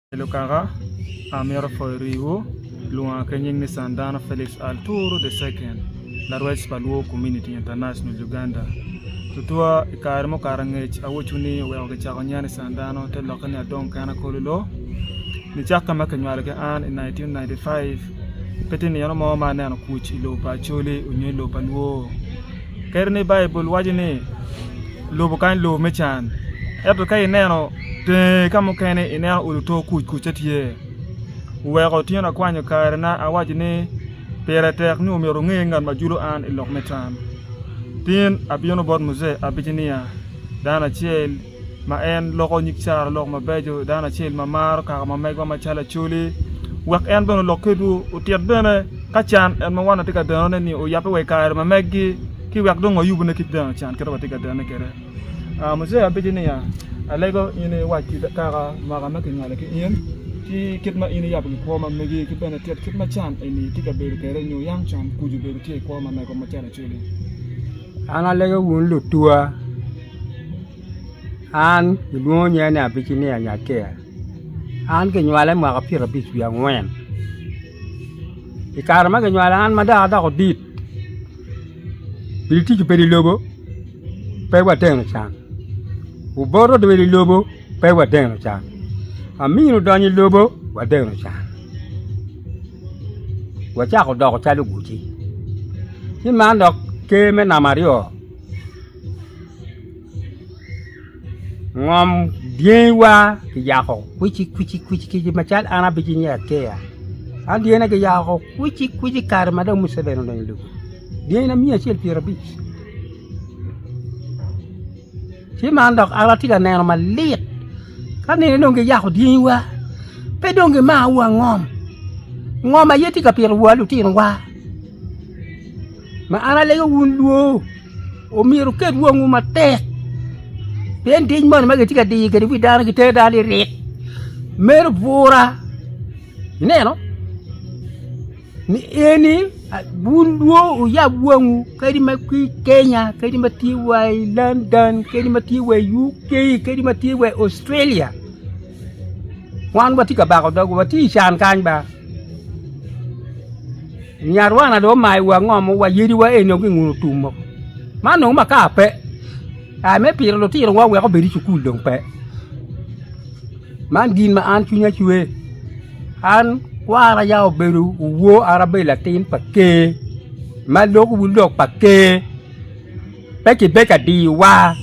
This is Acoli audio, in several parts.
Calo kaka amito pwoyo riwu, lwonga ki nying ni San Dano Felix Alturu the Second, larwec pa Luo Community International Uganda. Tutwa i kare mukato angec awoco ni oweko kicako nya ni San Dano te lokke ni Adong Kena Kololo. Nicakke ma kinywalo ki an i nineteen ninety five, pe tye nino mo ma aneno kuc i lobo pa Acholi nyo i lobo pa Luo. Kadi ni Baibul waco ni lubo kany lobo me can, ento ka ineno tenge ka mukene ineno olo to kuc kucce tye. Wuweko tyen akwanyo karena awaco ni pire tek ni omyero wunge ngat ma julo an i lok me can. Tin abino bot Muje abici niya, Dano acel, ma en loko nyig carana lok mabeco, dano acel ma maro kaka ma megwa macalo Acholi, wek en bene olok kedwu, otit bene ka can en ma wan watye ka denone ni oyabbe wa i kare ma meggi ci wek dong wayub ne kit deno can kit ma watye ka denone kwede. Aa Mujee abedo niya, Alego in iwac ki kaka mwaka ma kingolo ki in, ki kit ma in iyabo ki kwo ma megi ki bene tit kit ma can eni tye ka bedo kwede nyo yam can kuca obedo tye i kwo ma megwa macalo Acholi. An alego wun lutwa, an gilwongo nya ni Abicinia Nyakia, an ginywala i mwaka pyera abic wiye angwen, i kare ma ginywala an ma dong adoko dit, gitico bedo i lobo pe wateno can, oboto obedo i lobo pe wateno can, amin odonyo i lobo wateno can. wacako doko calo guci. Ci man dok ker me namba aryo ngom dyenywa kiyako kwici kwici kwici kwici macal an abici nge akeya an dyena kiyako kwici kwici kare ma dong Muceveni odonyo i lobo dyena miya acel pyerabic Ci man dok an atye ka neno malit ka anene dong giyako dyangiwa, pe dong gimako wa ngom, ngom aye tye ka pito wa litinowa. Ma an alego wun lwo, omyero wuket wangwu matek, pien diny moni ma gitye ka diyo kwede wi dano gitero dano lilik, meno bwura. Ineno? ni eni wun dwo wuyab wangu kadi ma ki Kenya kadi ma tye wa i London kadi ma tye wa i UK kadi ma tye wa i Australia wan watye ka bako dogwa watye i can kany ba nyarwana dong omayo wa ngomo wa yadi wa eni dong ginguno tum oo man dong makar pe kare me pito lutino wa wek obed i cukul dong pe. Man gin ma an cwinya cwe, an kwara ya obedo owo an abedo latin pa Ker ma lok wu lok pa Ker pe ki bedo ka diyo wa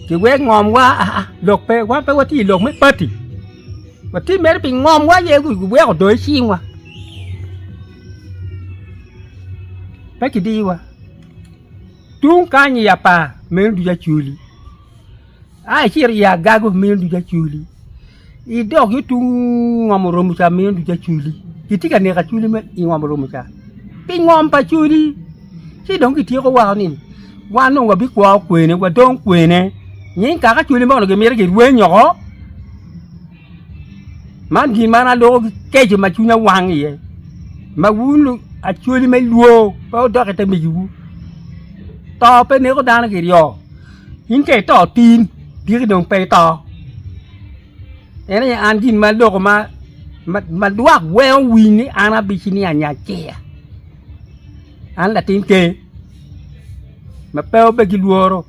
ki wek ngom wa aa lok pe wan pe watye ilok me pati watye mere pi ngom wa aye gu weko odong i cing wa pe ki diyo wa tung kany iya par meno ducu acwali. Ai, ci iri i agaga omiyo ducu aculi, i dog yo tung ngom oromo ca miyo ducu aculi. Kitye ka neko aculi me i ngom oromo ca. Pi ngom pa aculi, ci dong kityeko wako ni wan dong wabikwo kwene, wadong kwene. Nying kaka aculi mono gimito girweny oko. Man gin man aloko ki keco ma cwinya wang iye. Ma wun lu- aculi me lwo pe odok ite migiwu. To pe neko dano kiryo. In ka ito tin, tiki dong pe ito? En aye an gin ma adoko ma lwak weko winy ni an abici ni Anyattia, an latin ker ma pe obe ki lworo.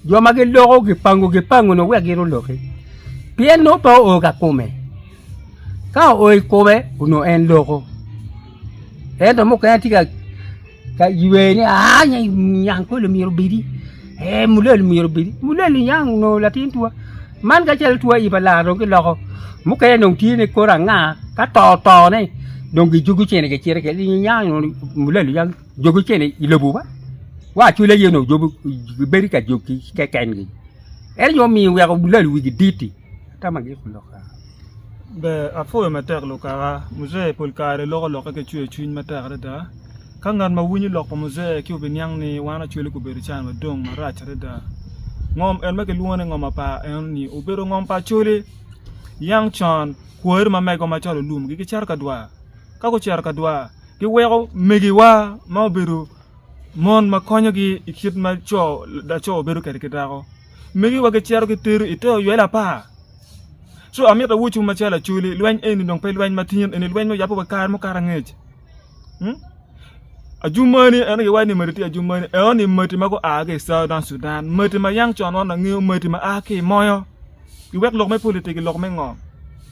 Jo ma giloko gipangu gipangu ni wek gin oloki, pien nongo pe oo ka kome. Ka oo i kome onongo en loko, ento mukene tye ka. Ka iywee ni aa nya i Nyankole myero obedi, ee Mulele myero obedi. Mulele niang onongo latin twa. Man kacel twa aye pa lar dong giloko. Mukene dong tye ni kore anga ka to tone dong gijogo cene gicito kwede. Dong niang onongo Mulele niang jogo cene i lobo ba. Wa acwele aye onongo jobo gibedo ka jog ki kekengi. En aye omiyo oweko Mulele wigi dit-ti. Tamagi oloko kare. Ber, apwoyo matek lukaka. Muzee pol kare loko lokke ki cwercwiny matek adada. Ka ngat ma winyo lok pa Muzee ci obiniang ni wan Acholi gubedo i can madong marac adada. Ngom en ma kilwongo ni ngom apar eno-ni obedo ngom pa Acholi. Yang con, kwayere ma mego macalo Olum gicito ka dwar. Ka gucito ka dwar, giweko megiwa ma obedo mon ma konyogi i kit ma laco bedo kwede ki dako. Megiwa gicito gitero i te oywelo apar. Co amito awocwu macalo Acholi, lweny eni dong pe lweny matin, eni lweny ma oyabbe wa kare mukato angec. Hmm? Ajumani en aye iwaco ni mati tye ajumani, enoni mati ma gua ki i Southern Sudan, mati ma yang con wan wangeyo, mati ma a ki i moyo. Iwek lok me politic lok me ngo?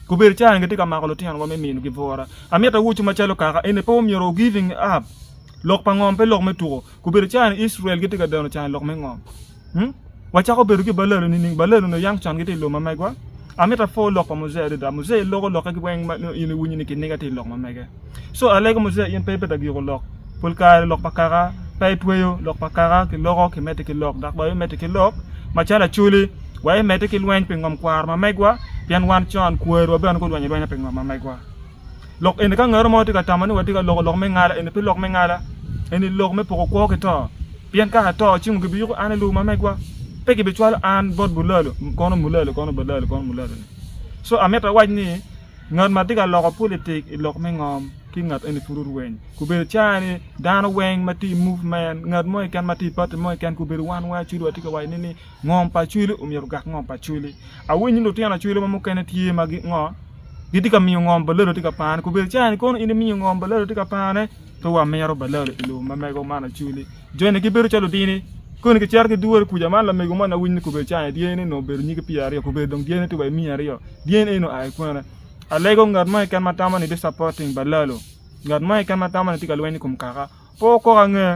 Kobedo cawa-ni gitye ka mako lutinowa me minigo bwura. Amito awocwu macalo kaka eni pe omyero wu giving up. Lok pa ngom pe lok me tuko. Kobedo cawa-ni Icrael gitye ka deno cani lok me ngom. Hmm? Wacako bedo ki balelo nining? Balelo nyo yam con gitye i lok ma megwa. Amito apor lok pa Muzee adada. Muzee iloko lokke ki weng ma in iwinyo ni kiniga tye i lok ma mege. So alego Muzee in pe ibedo agiko lok. Pol kare lok pa kaka pe itweyo, lok pa kaka kiloko kimedde ki lok dok bene imedde ki lok macalo Acholi wa imedde ki lweny pi ngom kwaro ma megwa pien wan con kwerewa bene gulwenyo alwenya pi ngom ma megwa. Lok eni, ka ngatto mo tye ka tamo ni watye ka loko lok me ngala, eni pe lok me ngala, eni lok me poko kwo ki to. Pien ka ato, cingo gibiyuko an ni lubo ma megwa, pe gibicwalo an bot bulalo, kono mulalo, kono balalo, kono mulalo-ni. Co, amito awac ni, ngat ma tye ka loko pulitik i lok me ngom ki ngat eni pud orweny. Kobedo caa ni dano weng ma tye i movement, ngat mo keken ma tye i pati mo keken, kobedo wan weng acudu watye ka waco ni, Ngom pa Acwili omyero ogak ngom pa Acwili. Awinyo ni lutino Acwili mo mukene tye ma gi ngo, gitye ka miyo ngom Balalo tye ka pane. Kobedo cawa ni kono in imiyo ngom Balalo tye ka pane, pe wamito Balalo i lobo ma mego man Acwili. Joni gibedo calo lutini, koni kicito kidwore kuca. Man lamego moni awinyo ni kobedo cawa ni dyanine onongo obedo nyige pyera aryo, kobedo dong dyanine tye wa i miya aryo, dyanine eni onongo oa ki kwene. Alego ngat mo keken ma tamo ni disappoting Balalo, ngat mo keken ma tamo ni tye ka lweny i kom kaka. Pe wukok ange,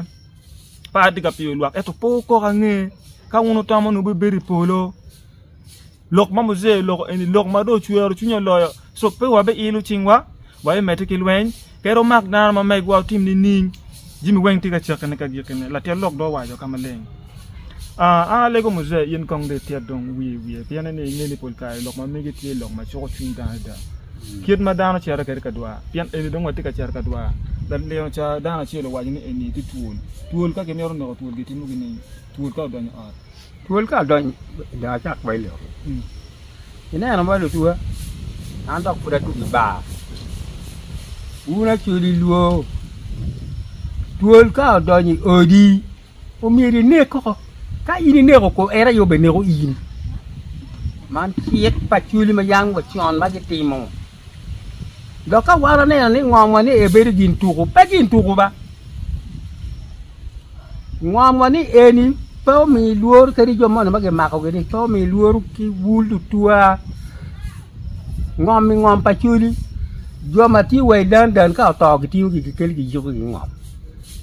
pe atye ka piyo lwak, ento pe wukok ange. Ka wun wutamo ni wubibedo i polo, lok ma Mujee oloko eni lok ma dong ocwero cwinya loyo. Cok pe wabiilo cingwa, wabimedde ki lweny, kadi wumak dano ma megwa wutim nining, jami weng tye ka cakkine ka gikkine, latyel lok dong owaco ka maleng. Aa, alego Muzee, in kong dong ityet dong wi i wiye, pien ni inge ni pol kare lok ma megi tye lok ma cuko cwiny dano adada, kit ma dano cito kwede ka dwar. Pien eni dong watye ka cito ka dwar. Lalino ca, dano acel owaco ni eni tye twol. Twol ka gimito neko twol gitimo gin eni, twol ka odonyo i ot. Twol ka odonyo, dong acak ba ilok. Ineno mo lutuwa, an dok pud atugo i bar. Wun acoli lwor, twol ka odonyo i odi. omyero inek koko, ka in ineko kor en aye obeneko in. Man cik pa cwiny ma yam wa con ma gitimo. Dok ka wan waneno ni ngomwa ni ebedo gin tuku, pe gin tuku ba. Ngomwa ni eni pe omiyi lworo kadi jo mono ma gimakogi ni pe omiyi lworo ki bul tutwa. Ngomi ngom pa cwiny. Jo ma tye wa i dan dan ka oto gitiyogi gikelo giyiko gingom.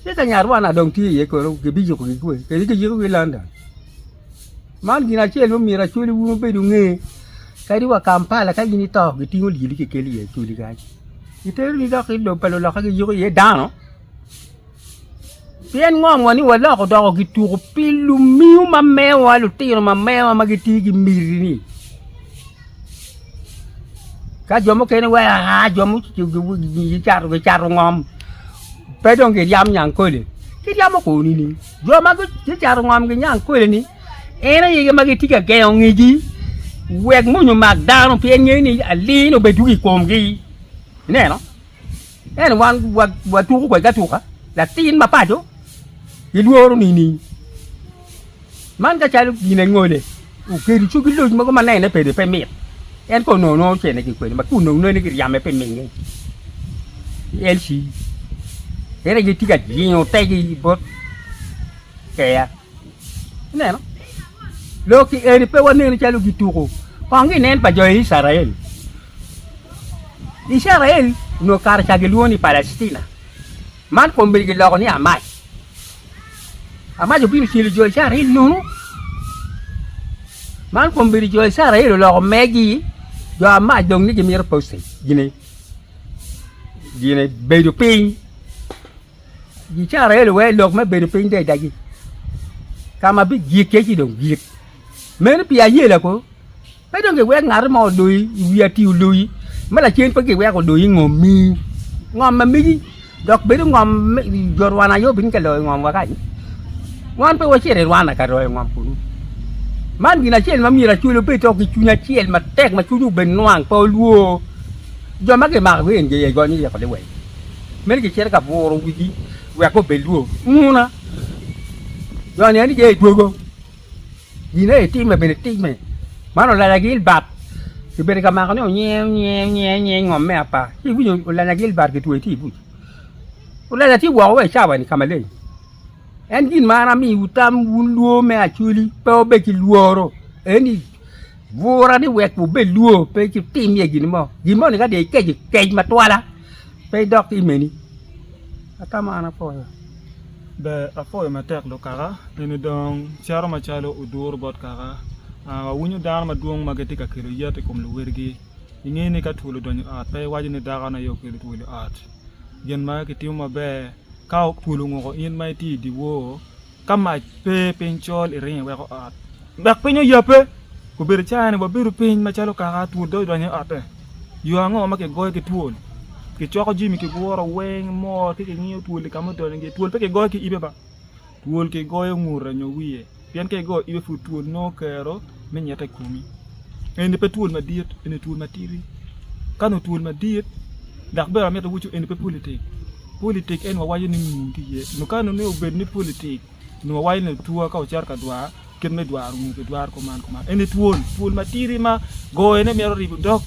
Ci ka nyarwana dong tye iye kono gibiyiko gigwe kadi giyiko ki London. Man gin acel ma myero acwali wun obed unge, kadi wa Kampala ka in ito gitingo lyeli kikelo iye acwali kany. Giteroni dok i lobo pa luloka giyiko iye dano. Pien ngom wa ni waloko doko gituko pi lumiu ma mewa, lutino ma mewa ma gitye gi miti ni. Ka jo mukene weko aa jo mucato ngom pe dong giryam Nyankole, giryamo koni ni jo ma gucato ngom gi Nyankole-ni en aye ma gitye ka gengo ngegi wek mony omak dano pien ngeyo ni aliny obedwogo i komgi. Ineno? Ento wan watuko kwedgi atuka, latin ma paco gilworo nining? Man ka calo gin angole okedo coggi loc mogo ma nene pede pe mit, en kono onongo nongo ocene ki kwede ma kun onongo nene giryame pi minge. LC. Ento gitye ka jingo tegi bot keya. Ineno? Lok-ki eni pe waneno calo gituko kong ginen pa jo Icrael. Icrael onongo kare ca gilwongo ni Palactina, man kombedi giloko ni Amac. Amac obino cilo jo Icrael nono, man kombedi jo Icrael oloko megi, jo Amac dong ni gimito postage, gine, gine bedo piny. Gicara elo wai lok me bedo piny daidagi, ka ma bijik kec idong jik. Meno pi ayela ko, pe dong giwek ngati mo oloyi i wi ati oloyi, ma lacen pe giwek oloyi i ngom mi. Ngom ma megi dok bedo ngom jo Rwanda aye obin ka loyo ngom wa kany. Wan pe wacito i Rwanda ka loyo ngom kunu. Man gin acel ma myero Acholi obed to ki cwiny acel matek ma cwinye obed nwang pe olwor. Jo ma gimako ki NJA gonyo iye kodi wek. Meno gicito ka buro wigi wek gubed lwor. Nguna, jo nen iye i dwogo, gin aye timme bene timme. Man olanya gil bat, kibedo ka mako ni onyieo nyieo nyieo nyieo ngom me apar. Ci iwinyo olanya gil bat kitweyo tye i buc. Olanya tye woko wa i cawa-ni ka maleng. En gin ma an amiwu tam wun lwor me acwali, pe wabed ki lworo. Eni Gura ni wek wubed lwo, pe itim iye gin mo. Gin moni ka dong ikeco, kec matwala, pe idok ki i meni. Ata ma an apwoyo. Ber, apwoyo matek lukaka. Eni dong cito macalo oduro bot kaka. Ah, wawinyo dano madwong ma gitye ka kelo yet i kom luwotgi. Inge ni ka twol odonyo i ot, pe iwaco ni dakone aye okelo twol i ot. Gin ma kitimo maber, ka twol onguko in ma itye i dyewor, ka mac pe piny col iringo iweko ot, dok piny oyabbe. Obedo icaya-ni, wabedo piny macalo kaka twol dong idonyo i otte. Yo ango ma kigoyo ki twol? Kicoko jami, kiguro weng mor ci kingiyo twol i ka ma odonyo iye. Twol pe kigoyo ki ibe ba, twol kigoyo ngute nyo wiye, pien ka igoyo ibe pud twol nongo kero. me nyette i komi. Eni pe twol madit, eni twol matidi. Ka nongo twol madit, dok bene amito awacu eni pe politik. Politik en wawaco ni ngun tye iye. Nongo ka nongo ni obed ni politik, nongo wawaco ni otwa ka ocito ka dwar, kit me dwaro ngu pi dwaro kuman kuman. Eni twol, twol matidi ma goyone mito ribo dog.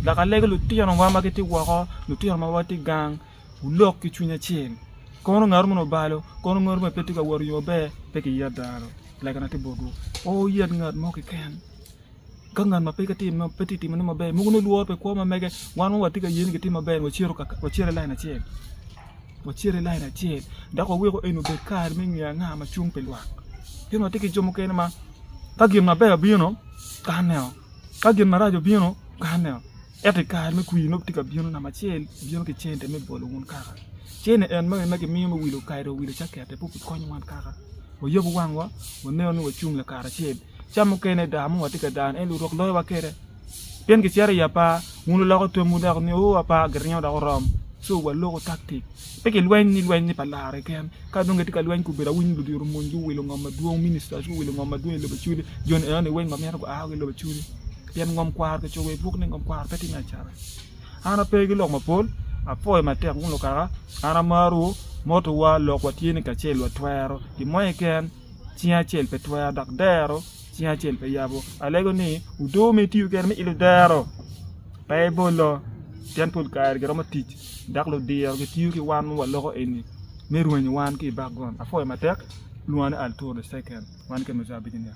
Dok alego lutinowa ma gitye woko, lutino ma watye gang. Wulok ki cwiny acel. Kono ngat moni obalo, kono ngat moni pe tye ka wot i yo maber, pe kiyet dano. Lagana tye botwu, pe wuyet ngat mo keken. Ka ngat ma pe tye ka timone maber, mogo nongo lworo pe kwo ma mege. Wan ma watye ka ye ni gitye maber-ni wacito kaka, wacito i lain acel, wacito i lain acel dok waweko eni obed kare me ngeyo anga ma cung pi lwak. Pien watye ki jo mukene ma ka gin maber obino, kaneo, ka gin marac obino, kaneo. Ento i kare me kwir nongo tye ka bino, namba acel bino ki cente me bolo wun kaka. Cene en magi ma gimiyo me wilo kare dong owilo cakette pud kikonyo wan kaka wayabo wangwa waneno ni wacung lakaracel. Ca mukene daa mo watye ka dano en lurok loyowa kwede pien kicito i apar wun wuloko twomwu dok wuniyo ni apar giringo dok oromo so waloko taktik pe kilweny ni lweny ni pa laro keken. Ka dong kitye ka lweny gubedo awiny ni ludito omonyo guwilo ngo madwong, ministers guwilo ngo madwong i lobo Acholi, joni enoni weng wamito gua woko ki lobo Acholi. Pien ngom kwaro ki cogo i buk ni ngom kwaro pe tye me acata. An ape ki lok mapol, apwoyo matek wun lukaka, an amarwu, motowa, lokwa tye ni kacel watwero, pi mony keken cing acel pe twero, dok dero cing acel pe yabo. Alego ni odoo ma itiyo kede me ilo dero pe ibolo, pien pol kare giromo tic dok ludiro gitiyo ki wan ma waloko eni me rwenyo wan ki i bakgond. Apwoyo matek, lwonga ni Arturo the Second, wan i kin Mozambique niya.